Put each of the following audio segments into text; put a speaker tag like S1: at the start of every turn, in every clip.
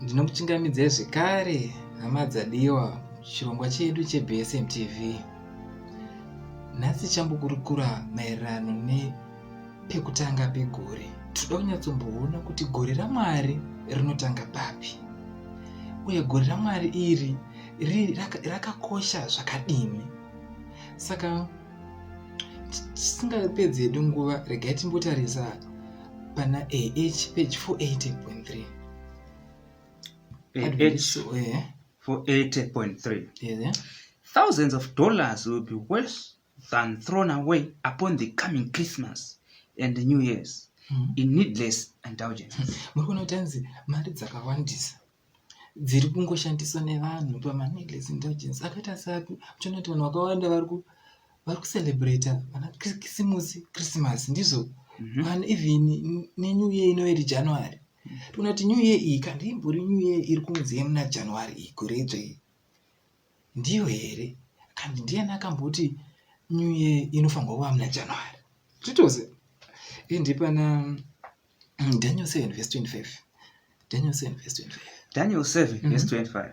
S1: Ndinokuchingamidzai zvekare hama dzadiwa chirongwa chedu cheBSM TV. Nhasi chambokurukura maererano nepekutanga pegore. Tinoda kunyatsomboona kuti gore raMwari rinotanga papi uye gore raMwari iri rakakosha raka zvakadini. Saka tisingapedzi hedu nguva regai timbotarisa pana AH page 480.3. 80.3 thousands of
S2: dollars will be worse than thrown away upon the coming christmas and the new years hmm. in needless indulgence hmm. muri kuona kuti anzi
S1: mari dzakawandisa dziri kungoshandiswa nevanhu pamaneedless indulgence akaita sapi uchiona kuti vanhu vakawanda vari ku vari kucelebrata vana kisimusi christmas ndizvo mm -hmm. vanhu even nenew year inoiri january tona kuti new year iyi kandi imbori new year iri kunzi yemuna january iyi kuredzva iyi ndiyo here kandi ndiyani akamboti new year inofanirwa kuva muna january zvitose ende pana mm, daniel 7 vs 25 daniel 7 vs 25 daniel 7 vs
S2: 25 mm-hmm.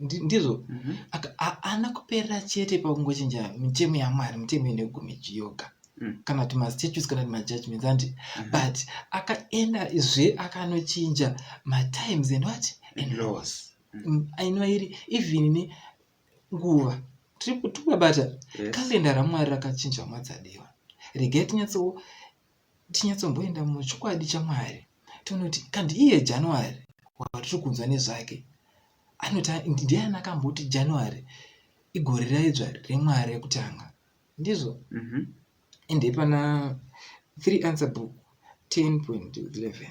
S1: ndizvo mhm. haana kuperera chete pakungochinja mitemo yamwari mitemo ine gumi chiyoga mm. kana kuti mastatues kana kuti majudgments andi mhm. but akaenda zve akanochinja matimes and what and mhm. laws mm. mm, ainova iri even ne nguva tiri kutukabata kalenda ramwari rakachinja mwadzadiwa regai tinyatsowo tinyatsomboenda muchokwadi chaMwari tonoti kandi iye January watiri kunzwa nezvake anoti ndiani akamboti January igore raidzva reMwari rekutanga ndizvo mhm. ende pana 3 answer book 10.11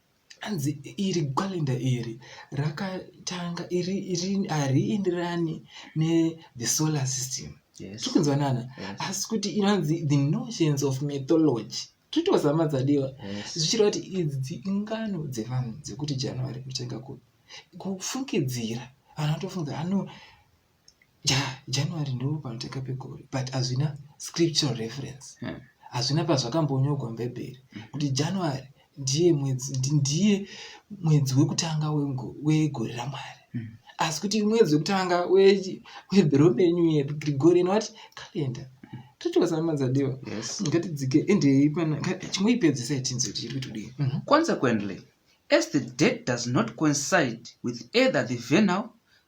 S1: hanzi iri calendar iri rakatanga iri iri harienderani nethe solar system tiri kunzwanana asi kuti inonzi the notions of mythology titozama dzadiwa zvichireva kuti idzi ingano dzevanhu dzekuti january kutanga kufungidzira vanhu vatofunga ano ja, january ndo panoteka pegore but hazvina scriptural reference hmm. hazvina pazvakambonyogwa mubhaibheri hmm. kuti january ndiye mwedzi ndiye mwedzi wekutanga wegore ramwari hmm. asi kuti mwedzi wekutanga wedhoromenyu yedu grigorian wat calendar totiwasamadzadiwa ngatidzike
S2: endei
S1: pana chimwe ipedzisa yatinzi kuti iri kutodii mhm. consequently
S2: as the date does not coincide with either the venal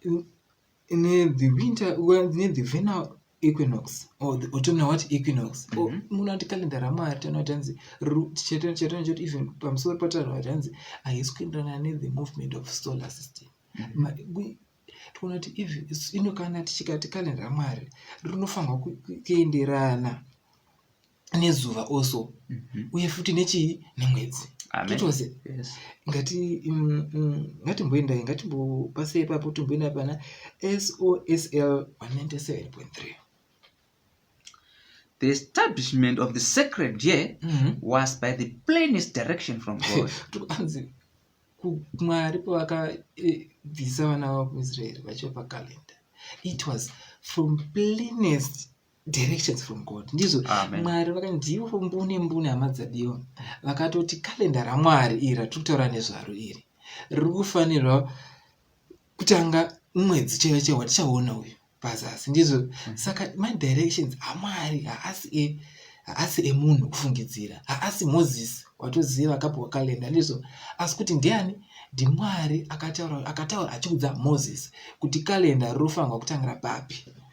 S1: in, in the winter well, in the vernal equinox or the autumnal what equinox mm -hmm. munhu ati kalenda ramwari tinoati hanzi chatino choti even pamusoro patanhu ati hanzi haisi kuenderana nethe movement of solar system mm -hmm toona kuti ino kana tichikati kalenda ramwari rinofanirwa kuenderana nezuva also mhm. uye futi nechii nemwedzi totose ngati mm, mm, ngatimboendai ngatimbopasei ipapo timboenda pana sosl 197.3
S2: the establishment of the sacred year mm -hmm. was by the plainest direction from god tukanzi
S1: mwari pavakabvisa eh, vana vavo kuisraeri vachiva pakalenda it was from plainest directions from god ndizvo mwari vakandivo mbune mbune hama dzadiwa vakatoti kalenda ramwari iri ratiri kutaura nezvaro iri riri kufanirwa kutanga mwedzi chaiva chaiva watichaona uyu pazasi ndizvo mm. saka madirections amwari haasi e haasi emunhu kufungidzira haasi moses watoziva akapiwa kalenda ndizvo asi kuti ndiani ndimwari akataura akataura achiudza moses kuti kalenda rinofanirwa kutangira papi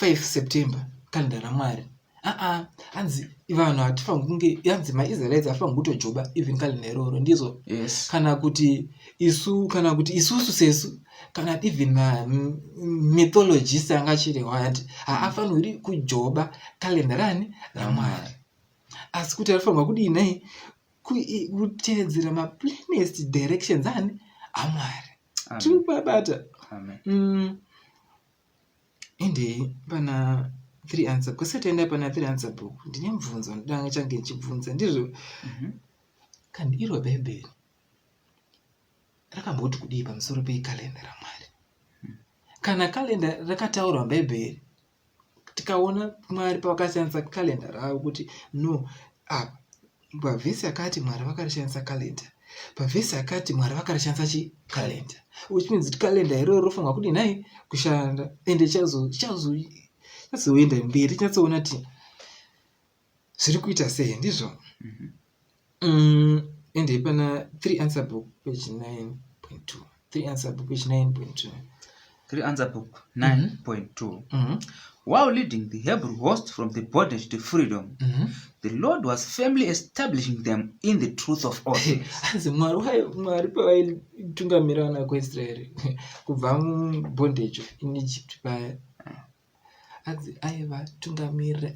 S1: 5 september kalenda ramwari aa hanzi vanhu hatifangi kunge hanzi maisraelites hatifangi kutojoba even kalenda iroro ndizvo yes. kana kuti isu kana kuti isusu sesu kana even mythologist anga achirehwa ati haafaniri kujoba kalenda rani ramwari asi kuti arifanirwa kudii nei kutevedzera maplanest directions ani amwari tiri kubabata mm.
S2: Ende
S1: pana three answer kwese taenda pana three answer book ndine mubvunzo ndanga change ndichibvunza ndizvo mhm. kandi iro bhaibheri rakamboti kudii pamusoro pekalenda ramwari hmm. kana kalenda rakataurwa bhaibheri tikaona mwari pavakasiyanisa kalenda ravo kuti no apa pavhesi yakati mwari vakarishandisa kalenda pavhesi yakati mwari vakarishandisa chi kalenda which means kuti kalenda iroro rofanirwa kudii nhai kushanda ende chazoenda mberi chinatsoona ti zviri kuita sei ndizvo mhm. mm, ende ipana 3 answer book page 9.2 3 answer book page 9.2 3 answer
S2: book 9.2 mm -hmm. While leading the Hebrew host from the bondage to freedom, mm -hmm. the Lord was firmly establishing them in the truth of all things. Hanzi Mwari wayo
S1: Mwari pavaitungamira vana kuIsraeri kubva mubondage in Egypt paya hanzi aivatungamirira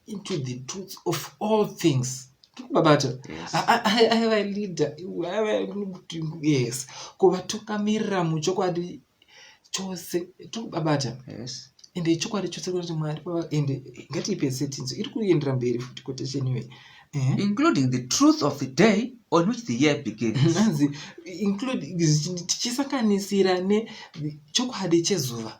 S1: into the truth of all things babata aivaleader yes kuvatungamirira muchokwadi chose tokubabata ende
S2: ichokwadi chose
S1: kuti mwari ende ngatiipe setinzo iri kuendera mberi futi quotation iyoyi eh? including the
S2: truth of the day on which the year beginsnzi
S1: tichisanganisira nechokwadi chezuva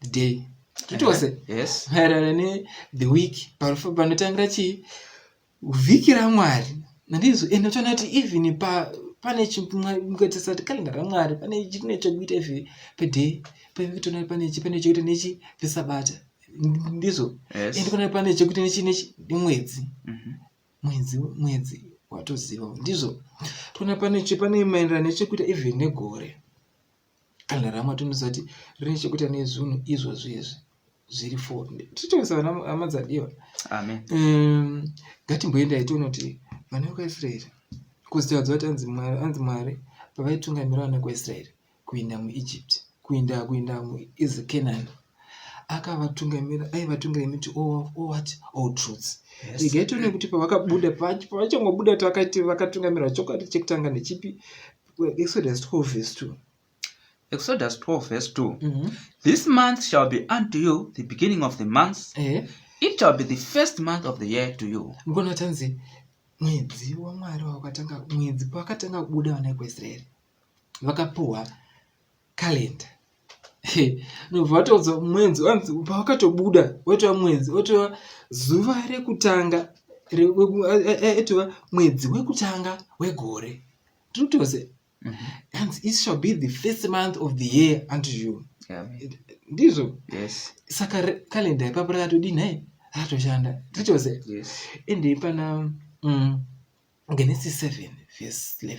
S1: the day titose uh-huh. yes
S2: maererano ne
S1: the week panotangira chii vhiki ramwari nandizo ende toona kuti even pa pane chimukatisa kuti kalenga ramwari pane chine chokuita ife peday pekutoona pane chi pane chokuita nechi pesabata ndizvo yes. ende pane pane chokuita nechi nechi mwedzi mm-hmm. mwedzi mwedzi watoziva ndizvo toona pane chi pane maenderano nechekuita even negore kana ramatu ndisati rine chekuita nezvinhu izvozvo izvi zviri fo tichitongesa vana hama dzadiwa amen um,
S2: ngatimboendai
S1: tione kuti vana vekuisraeri kuzitadza kuti anzi mwari anzi mwari pavaitungamira vana kuisraeri kuinda muegypt kuinda kuinda muizi canaan akavatungamira aivatungira imiti owat oh, oh, truths igai tione kuti pavakabuda pavachangobuda tavakati vakatungamirwa chokwadi chekutanga nechipi Exodus 12 verse 2. Exodus 12
S2: verse 2. Mm -hmm. This month shall be unto you the beginning of the months. Uh -huh. It shall be the first month of the year to you. Ngono tanzi
S1: mwedzi waMwari wakatanga mwedzi pakatanga kubuda vana vekuIsraeri vakapuwa calendar nobva wataudza mwedzi wanzi pawakatobuda watova mwedzi watova zuva rekutanga etova mwedzi wekutanga wegore tinotose mhm. and it shall be the first month of the year unto you ndizvo
S2: saka kalenda
S1: ipapo rakatodii nhai ratoshanda tinotose ende
S2: ipana
S1: mm, genesis 7 verse 11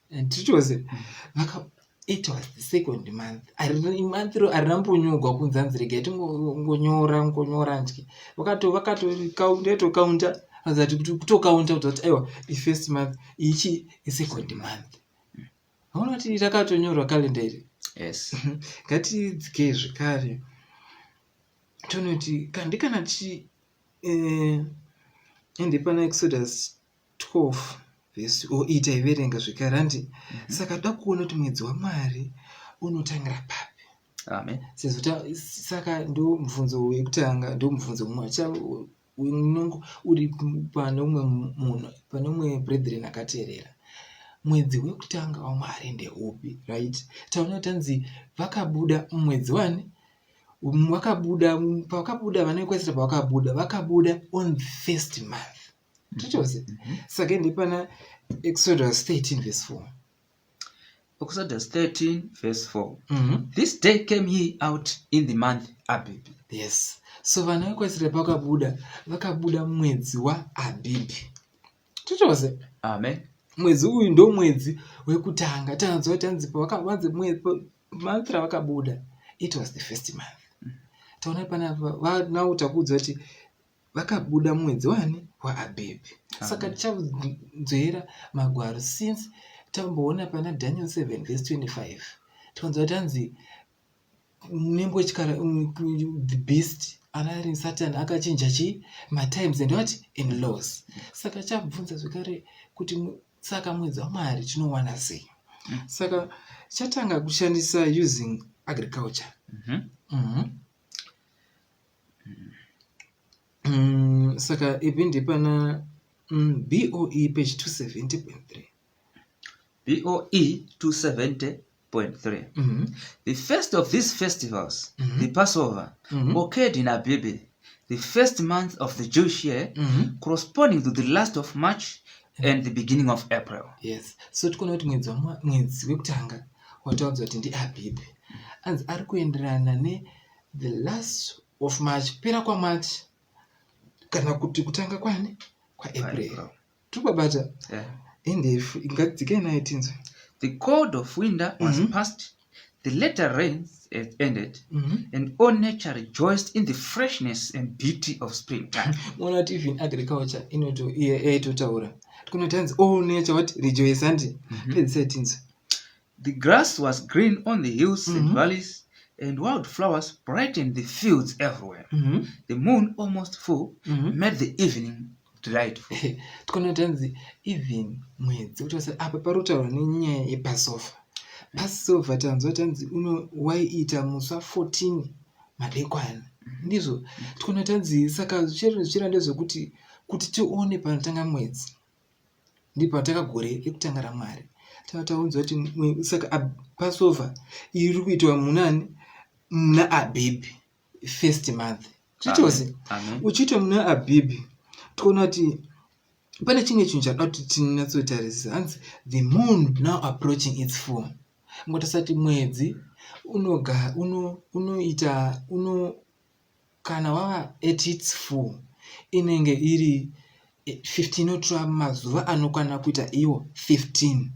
S1: and it was vaka it was the second month month ro arina mbonyogwa kunzi anzi regai tingongonyora ngonyora ndye vakato vakatokaundetokaunda azati kutokaunda kuti kuti aiwa ifirst month ichi isecond month aona kuti rakatonyorwa kalenda iri yes
S2: ngatidzikei
S1: zvekare tonoti kandikana tichi eh, ende pana exodus 12 vhesi o ita iverenga zvekare handi mm -hmm. saka toda kuona kuti mwedzi wamwari unotangira papi amen sezvo
S2: saka
S1: ndo mubvunzo wekutanga ndo mubvunzo mumwe unongo uri pane umwe munhu pane umwe brethren akateerera mwedzi wekutanga wamwari ndeupi right taona tanzi vakabuda mwedzi wani wakabuda pavakabuda vanoekwesera pavakabuda vakabuda on first month nditose mm-hmm. saka ende pana exodus 13 vese 4
S2: exodus 13 vese 4 mm -hmm. this day came ye out in the month abibi yes
S1: so vana vekwasira pakabuda vakabuda mwedzi waabibi titose amen
S2: mwedzi uyu ndo
S1: mwedzi wekutanga tanzwa kuti anzi pavakavanzi month ravakabuda it was the first month mm. taona panapa now takuudzwa kuti vakabuda mwedzi wani waabhebhi saka tichanzwera magwaro since tamboona pana daniel 7 vese 25 tikanzwa tanzi nembo chikara mm, the beast anari satan akachinja chii matimes and what in laws saka chabvunza zvekare kuti saka mwedzi wamwari tinowana sei mm. saka chatanga kushandisa using agriculture mm -hmm. Mm -hmm. Mm, saka ipi ndipana mm, boe page 270.3
S2: boe 270.3 mm -hmm. the first of these festivals mm -hmm. the passover mm -hmm. occurred in abibi the first month of the jewish year mm -hmm. corresponding to the last of march mm-hmm. and the beginning of april yes so tikuona
S1: kuti mwedzi mwedzi wekutanga wataudzwa kuti ndiabibi anzi ari kuenderana ne the last of march kupera kwamarch kana kuti kutanga kwani kwaapril tobabata yeah.
S2: endefu
S1: ingadzike naye tinzwe the code
S2: of winter was mm -hmm. passed the later rains had ended mm -hmm. and all nature rejoiced in the freshness and beauty of spring time mona kuti even
S1: agriculture inoto iye eitotaura tikunotanzi all nature what rejoice andi mm -hmm. pedzisai tinzwe The grass
S2: was green on the hills mm -hmm. and mm-hmm. valleys, and wild flowers brightened the fields everywhere. Mm -hmm. The moon, almost full, mm -hmm. made the evening delightful. Tikono tenzi,
S1: even mwedzi, kuti wase, apa parutaura nenyaya yepasofa. Pasofa tanzwa tanzi, uno, waiita musa 14 madekwana. Mm-hmm. Ndizvo, mm-hmm. tikono tanzi, saka zvichira ndezvekuti, kuti tione panotanga mwedzi. ndipo ataka gore rekutanga ramwari tava taunzwa kuti saka passover iri kuitwa munani muna abhibhi first month zvitose uchiitwa muna abhibhi toona kuti pane chimwe chinhu chada kuti tinatsotarisisa hanzi the moon now approaching its four ngotasati mwedzi unoita uno, uno, uno Kana wava at its full inenge iri 15 inotora mazuva anokwana kuita iwo 15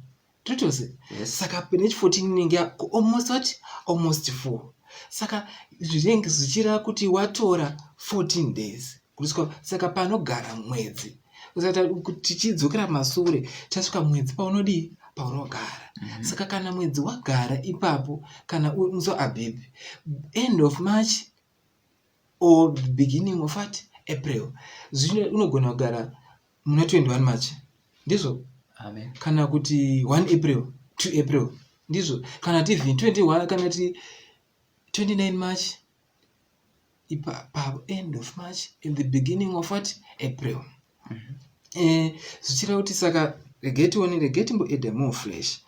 S1: totose yes. saka nechi 14 inenge almost what almost full saka zvinenge zvichireva kuti watora 14 days kuriswa saka panogara mwedzi kusata tichidzokera masure tasvika mwedzi paunodii paunogara mm -hmm. saka kana mwedzi wagara ipapo kana so abhebhi end of march or beginning of at april zvino unogona kugara muna 21 march ndizvo Amen. kana
S2: kuti 1
S1: april 2 april ndizvo kana tv 21 kana ti 29 march ipapavo end of march in the beginning of what april mm -hmm. eh, zvichireva kuti saka regai tione regai timboeda more fresh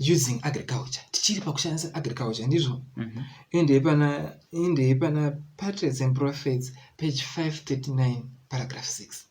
S1: using agriculture tichiri pakushandisa agriculture ndizvo mhm. endei pana endei pana patriots and prophets page 539 paragraph 6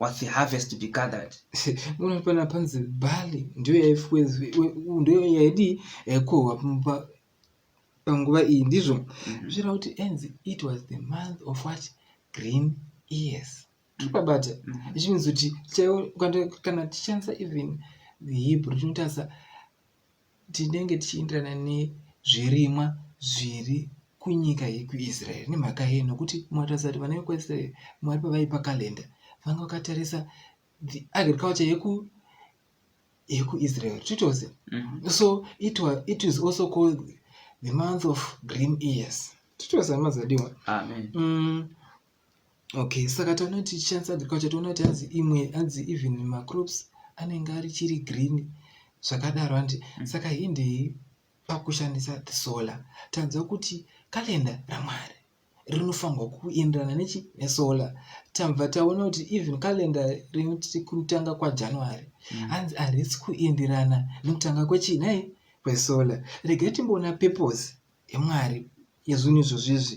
S2: was the harvest to be gathered unopana
S1: panzi bali ndiyo yaifwezwe ndiyo yaidi yaikohwa panguva iyi ndizvo mhm. zvichira kuti enzi it was the month of what green ears tiripabata mhm. ichivinzi kuti chaiwo kana tichishandisa even the hebrew tinotarisa tinenge tichienderana nezvirimwa zviri kunyika yekuisraeri nemhaka yei nokuti munotarisa kuti vana vekuisraeri mwari pavaipa kalenda vanga vakatarisa the agriculture yeku yekuisrael titose mm -hmm. so it, was, it is also called the month of green ears titose amazadiwa amen mm, okay saka taona kuti tichishandisa agriculture toona kuti hanzi imwe hanzi even macrops anenge ari chiri green zvakadaro handi mm. saka hindei pakushandisa the solar tanzwa kuti kalenda ramwari rinofanirwa kuenderana nechi nesolar tabva taona kuti even kalenda rinoti kutanga kwajanuary mm. hanzi mm. harisi kuenderana nekutanga kwechii nei kwesolar regai timboona purpose yemwari yezvinhu izvozvizvi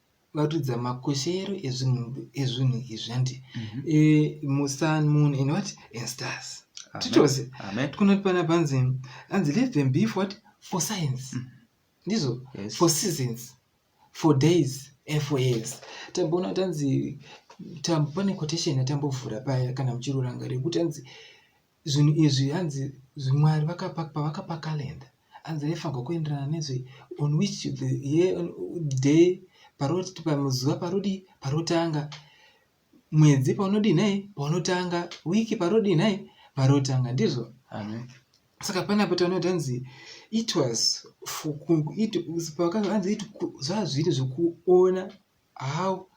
S1: varidza makoshero ezvinhu ezvinhu izvi handi mhm. eh, musun moon and what and stars titose tikunoti pana panzi anzi let them be for what for science mhm. ndizvo for seasons for days and for years tamboona kuti anzi pane quotation yatambovhura paya kana muchiruranga rekuti anzi zvinhu izvi hanzi zvimwari pavakapakalenda hanzi raifanirwa kuenderana nezve on which the year day paroti pamuzuva parodi parotanga mwedzi paunodii nhai paunotanga wiki parodii nhai parotanga ndizvo amen saka panapo taona kuti hanzi it was pakaanzi it zvazviri zvekuona how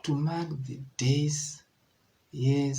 S1: to mark the days yes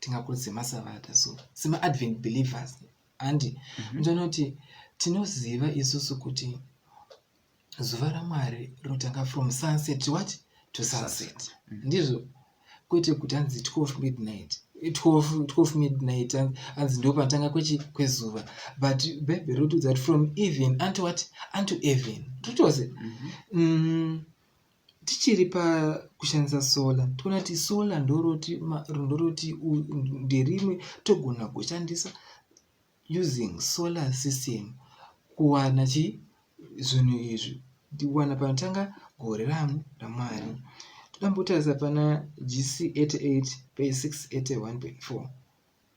S1: tingakurudzire masavata so semaadvent believers handi mhm. ndonoti mm -hmm. tinoziva isusu kuti zuva ramwari rinotanga from sunset to what to sunset mm -hmm. ndizvo kwete kuti hanzi 12 midnight 12, 12 midnight hanzi ndo panotanga kwechi kwezuva but bhaibheri rotiudza kuti from even unto what unto even totoze mm -hmm. mm, tichiri pakushandisa solar toona kuti solar ndoroti ndoroti nderimwe togona kushandisa using solar system kuwana chi zvinhu izvi kuwana panotanga gore ramu ramwari toda mbotarisa pana gc 88 pe 681.4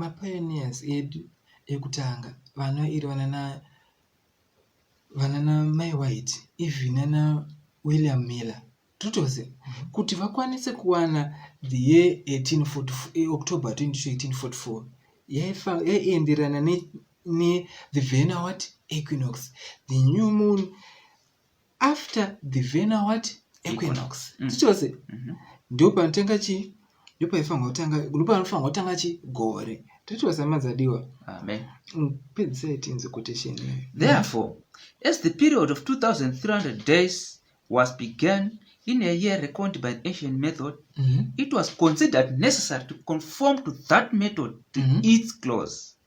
S1: Mapioneers edu ekutanga vano iri vanana vanana Mai White even nana William Miller totozi mhm. kuti vakwanise kuwana the year 1844 eh, October 22 1844 yaienderana ne, ne the vena what equinox the new moon after the vena what equinox tichose mhm. ndipo panotanga chii ndipo paifanirwa kutanga ndipo panofanirwa kutanga chii gore tatiwa samadzadiwa amen
S2: mm, pedzisai
S1: tinzi quotation therefore
S2: as the period of 2300 days was began in a year reckoned by the ancient method mm -hmm. it was considered necessary to conform to that method to mm -hmm. its close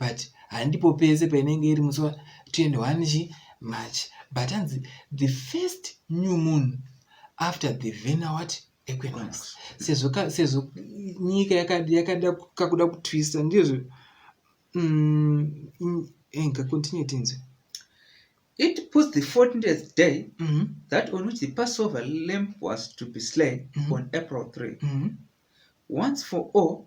S1: but handipo pese painenge iri musi wa 21 chi march but hanzi the first new moon after the vena what equinox sezvo sezvo nyika yakada kakuda kutwista ndizvo mm, enga eh, continue tinzwe it
S2: puts the 14th day mm -hmm. that on which the passover lamp was to be slain mm -hmm. on april 3 mm -hmm. once for all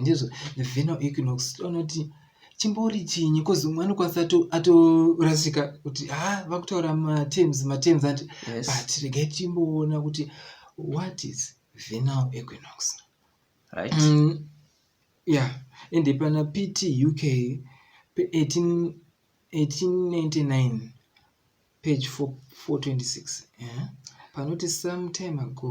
S1: ndizvo vheno equinox anoti chimbori chinyi bcause umwe anokwanisa atorasika kuti ha ah, vakutaura matems matems ati yes. but regai
S2: timboona
S1: kuti what is venal equinox right mm, yeah ende pana pt uk pe 18, 1899 page 426 yeah? panoti sometime ago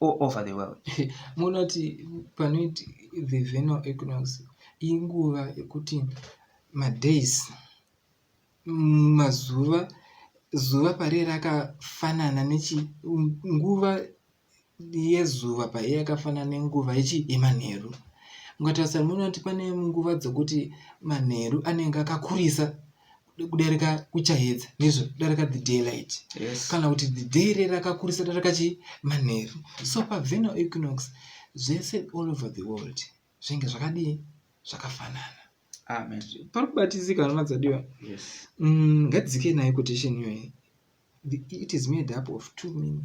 S2: all over the world munoti
S1: panoiti the venal equinox inguva yekuti madays mazuva zuva pariye rakafanana nechi nguva yezuva paiye yakafanana nenguva yechi yemanheru mukatarisa munoti pane nguva dzekuti manheru anenge akakurisa kudarika kuchayedza nezvo kudarika the daylight yes. kana kuti the
S2: day re
S1: rakakurisa darika chi manheru so paveno equinox zvese all over the world zvinge zvakadii zvakafanana amen
S2: pari kubatizika
S1: hama dzadiwa yes. mm,
S2: ngadzike
S1: nayo quotation iyoyi it is made up of two meaning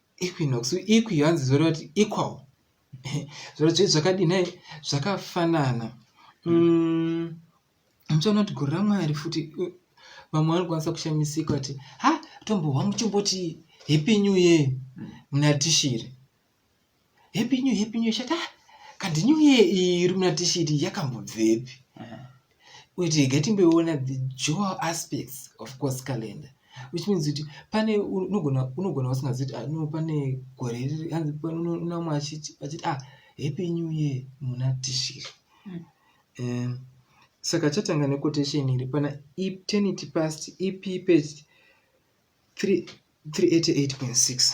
S2: equinox
S1: equi hanzi zvoreva kuti equal zvoreva kuti zvakadii nhai zvakafanana mm, muchaona kuti gore ramwari futi vamwe vanokwanisa kushamisika kuti ha tombohwa muchimboti happy new year muna tishiri happy new happy new shata ah, kandi new year iri muna tishiri yakambobvepi wait gatimboiona the dual aspects of course calendar which means kuti pane unogona unogona usingazivi kuti ah, no pane gore riri hanzi namwe achiti achiti ah happy new year muna tishiri mm. um, saka chatanga nequotation iri pana eternity past ep page 388.6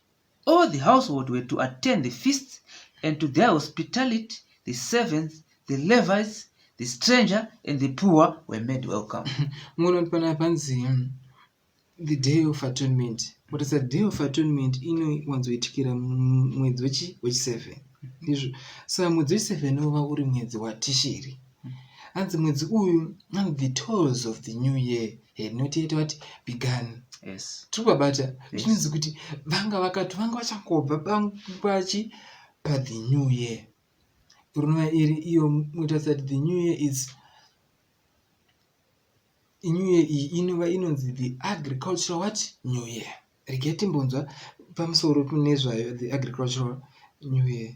S2: All the household were to attend the feast, and to their hospitality the servants, the Levites, the stranger, and the poor were made welcome. Munoona kuti panapa
S1: panzi hmm, the day of atonement. But it's a day of atonement inowanzoitikira mwedzi wechi wechiseven. Ndizvo. So mwedzi wechiseven unova uri mwedzi watishiri. hanzi mwedzi uyu and the tolls of the new year eh, noti yete vati began yes. tiri kubabata
S2: zvinonzi
S1: yes. kuti vanga vakati vanga vachangobva pachi pa the new year rinova iri iyo mutarisa kuti the new year is new year iyi inova inonzi the agricultural what new year regai timbonzwa pamusoro nezvayo the agricultural new year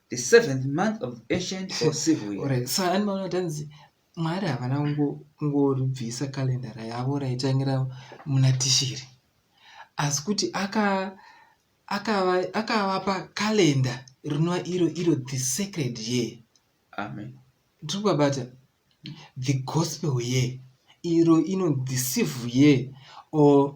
S2: the seventh month of ancient or civil year Alright, so ani maona kuti anzi
S1: mwari havana kungo- kungoribvisa kalendara yavo raitangira muna tishiri asi kuti aka- akava- akavapa kalenda rinova iro iro the sacred year amen
S2: tiri kubabata
S1: the gospel year iro ino the civil year or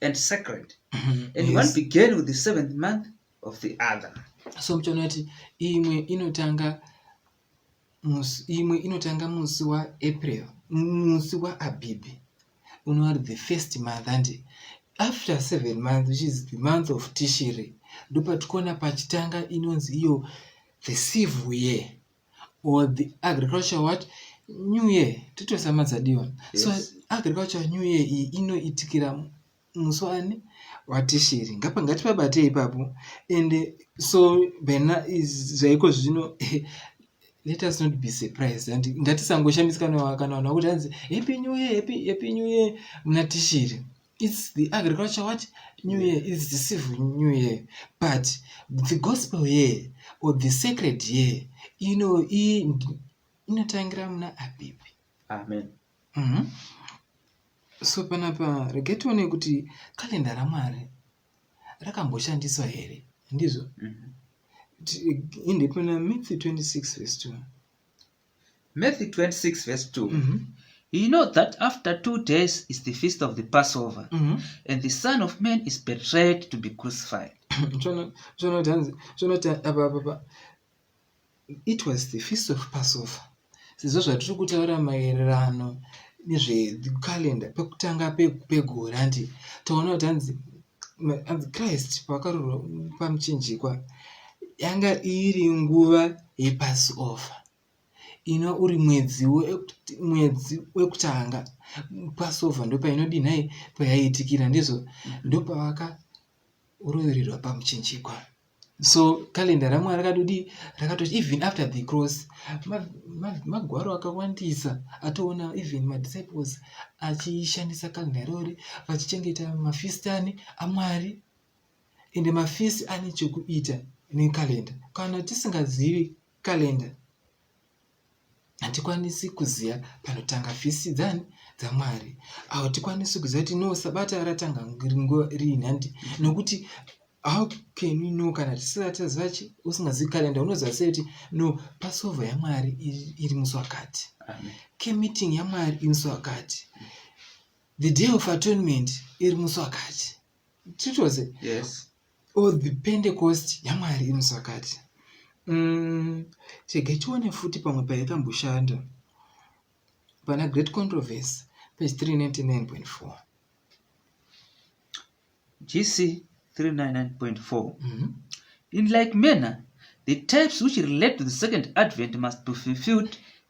S2: and sacred and yes. one began with the seventh month of the other so muchaona kuti
S1: imwe inotanga imwe inotanga musi waapril musi waabhibhi unoari the first month andi after seven months which is the month of tishiri ndopatikuona pachitanga inonzi iyo the civil year or the agriculture what new year titoisa madzadiwa yes. so agriculture new year iyi inoitikira musi wani watishiri ngapa ngatipabatei ipapo and so bena zvaiko zvino let us not be surprised and ngatisangoshambisikana kana vanhu vakuti hanzi happy new year happy, happy new year muna tishiri it's the agriculture what new year it's the civil new year but the gospel year or the sacred year ino inotangira muna apipi amen
S2: mm -hmm.
S1: so panapa rege tione kuti kalenda ramwari rakamboshandiswa here ndizvo mm -hmm. in the myth 26 verse 2
S2: Matthew 26 verse 2. Mm -hmm. You know that after two days is the feast of the Passover, mm -hmm. and the Son of Man is betrayed to be crucified.
S1: It was the feast of Passover. Sizvo zvatiri kutaura maererano nezvecalendar pekutanga pegore hanti taona kuti hanzi hanzi christ pavakarurwa pamuchinjikwa yanga iri nguva yepassover ino uri mwedzi mwedzi wekutanga passover ndopainodii nhai payaitikira ndizvo ndopavaka urovererwa pamuchinjikwa so calendar ramwari rakatodii rakatoti even after the cross magwaro akawandisa atoona even madisciples achishandisa calendar irori vachichengeta mafistani amwari ende mafisi ane chekuita necalendar kana tisingazivi calendar hatikwanisi kuziva panotanga fisi dzani dzamwari awo tikwanisi kuziva kuti no sabata ratanga nguva riini handi nokuti how can we know kana tisataziva chi usingazivi kalenda unoziva sei kuti no pasova yamwari iri musi wakati kemeeting yamwari iri musi wakati the day of atonement iri musi wakati titoze yes or the pentecost yamwari imusakati mm, chege tione futi pamwe paikamboshanda pana great controversy page 399.4
S2: gc 399.4 mm -hmm. in like manner the types which relate to the second advent must be fulfilled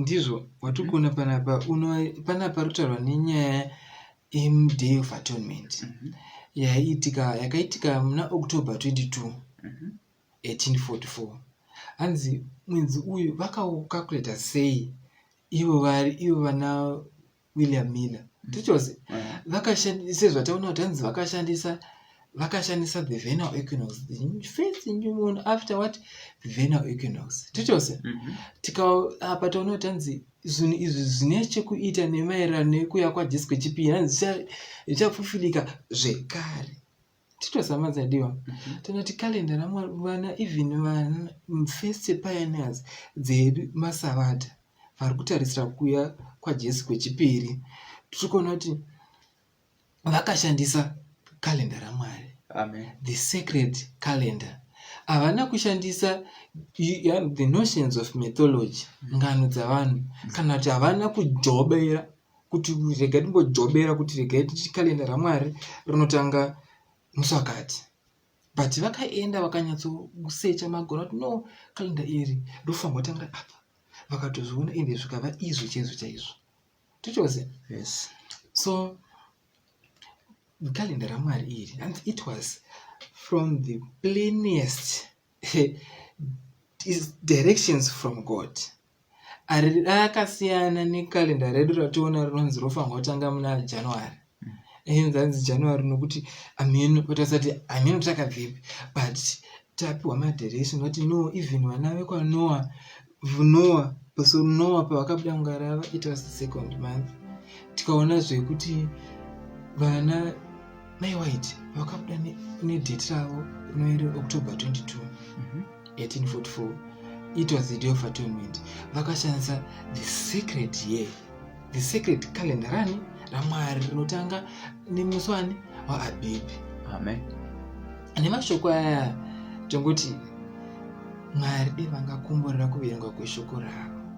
S1: ndizvo watiri kuona panapa uno panapa ari kutaurwa nenyaya yemuday of atonement mhm. yaiitika yakaitika muna october 22 1844 mhm. hanzi mwedzi uyu vakaucalculator sei ivo vari ivo vana william miller mm. tichose vakashandisa sezvataona kuti hanzi vakashandisa vakashandisa the venal equinox first new moon after what the venal equinox tichose mm-hmm. tikaapa taona kuti hanzi zvinhu izvi zvine chekuita nemaererano nekuya kwajesu kwechipiri hanzi zvichafufilika zvekare titozama dzadiwa mhm. tinoti calendar ramwari vana even vana first pioneers dzedu masavata vari kutarisira kuuya kwajesu kwechipiri tiri kuona kuti vakashandisa calendar ramwari the
S2: sacred
S1: calendar havana kushandisa the notions of mythology ngano dzavanhu kana kuti havana kujobeera kuti regai timbojobera kuti regai tichi kalenda ramwari rinotanga musakati but vakaenda vakanyatsosecha magona kuti no kalenda iri ndofanirwa tangira apa vakatozviona ende zvikava izvo chaizvo chaizvo tichose yes
S2: so
S1: kalenda ramwari iri and it was from the plainest directions from god rakasiyana nekalenda redu rationa rinonzi rofanirwa kutanga muna january mm. zvanzi january nokuti ameno tasati ameno takabvepi but tapiwa madirection vati no even vana vekwanoa noa so noa pavakabuda mungarava it was the second month tikaona zvekuti vana mai white vakabuda nedate ravo rinoere october 22 mm -hmm. 1844 it was the day of atonement vakashandisa the secret year the secret calendar rani ramwari rinotanga nemusi wani waabhibhi amen nemashoko aya tongoti mwari devangakumburira kuverengwa kweshoko ravo